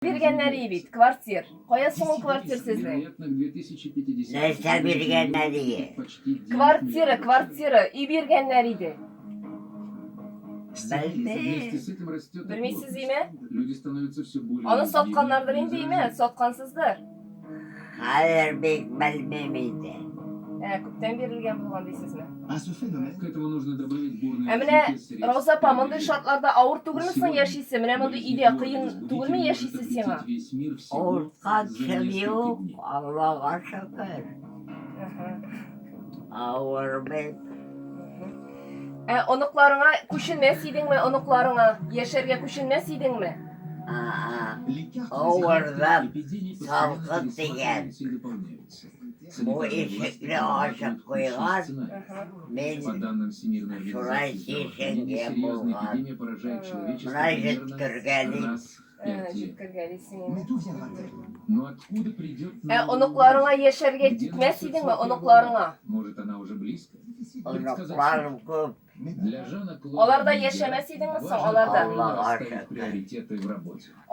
Биргәннәри бит квартир. Кая соң ул квартир сезнең? Нәрсә биргәннәрие? Квартира, квартира, өй биргәннәр иде. Белмим. Белмисез име? Аны сатканнардыр инде име? Саткансыздыр. Хәзер бик белмим инде. Ә, күптән бирелгән булган дисезме? Ә менә, Рауза апа, мондый шартларда авыр түгелме соң яшисе? Менә мондый өйдә кыен түгелме яшисе сиңа? Утка төшеп юк, Аллага шөкер. Авыр бит. Ә оныкларыңа күченмәс идеңме, оныкларыңа яшәргә күченмәс идеңме? Авырдан салкын тигән. Бу ишекне ачып куйган, мин шулай чишенгән булган. Менә җөткергәлим. Ә оныкларыңа яшәргә китмәс идеңме, оныкларыңа? Оныкларым күп. Аларда яшәмәс идеңме соң, аларда?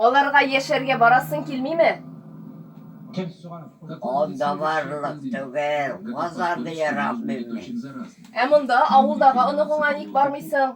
Аларга яшәргә барасың килмиме? Анда барлык түгел, Казанны яратмыйм мин. Ә монда, авылдагы оныгыңа ник бармыйсың?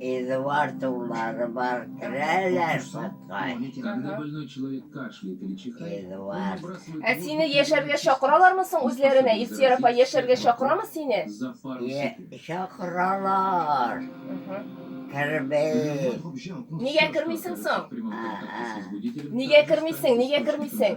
Эдуардулары бар керәләр судка. Эдуард. Ә сине яшәргә чакыралармы соң үзләренә? Ифтияр апа яшәргә чакырамы сине? Е- Чакыралар. Кермим. Нигә кермисең соң? Ага. Нигә кермисең? Нигә кермисең?